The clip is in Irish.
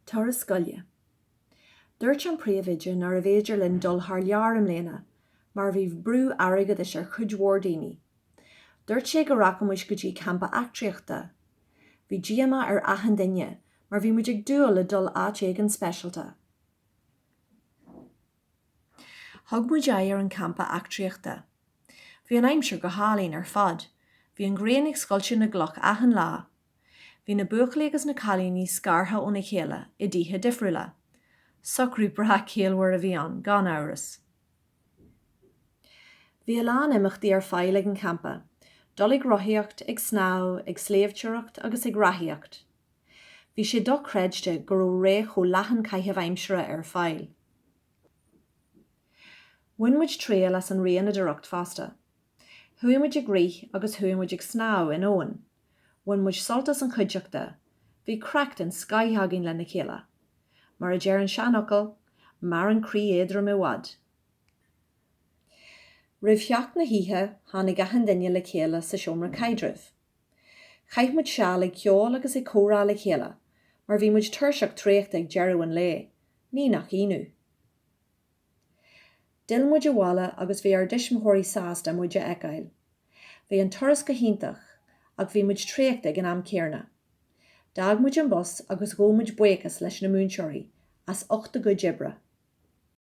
Turas scoile. Dúirt an príomhoide nárbh fhéidir linn dul thar lear i mbliana mar bhí brú airgeadais ar chuid mhór daoine. Dúirt sé go rachadh muid go dtí campa eachtraíochta. Bhí díomá ar achan duine mar bhí muid ag dúil le dul áit éigin speisialta. Thug muid aghaidh ar an gcampa eachtraíochta. Bhí an aimsir go hálainn ar fad. Bhí an ghrian ag scoilteadh na gcloch achan lá. Bhí na buachaillí agus na cailíní scartha óna chéile i dtithe difriúla. Socrú breá ciallmhar a bhí ann, gan amhras. Bhí a lán imeachtaí ar fáil ag an champa, dul ag rothaíocht, ag snámh, ag sléibhteoireacht agus ag reathaíocht. Bhí sé dochreidte go raibh réimse leathan caitheamh aimsire ar fáil. Bhain muid triail as an rianadóireacht fosta. Chuaigh muid ag rith agus chuaigh muid ag snámh in abhainn. Bhain muid sult as an chuideachta, bhí craic den scaith againn lena chéile. Mar a deir an seanfhocal, maireann croí éadrom i bhfad. Roimh theacht na hoíche, tháinig achan duine le chéile sa seomra caidrimh. Chaith muid seal ag ceol agus ag comhrá le chéile, mar bhí muid tuirseach traochta ag deireadh an lae, ní nach ionadh. D'fhill muid abhaile agus bhí ár dtuismitheoirí sásta muid a fheiceáil. Bhí an turas go hiontach ach bhí muid traochta ag an am céanna. D'fhág muid an bus agus ghabh muid buíochas leis na múinteoirí as ucht a gcuid oibre.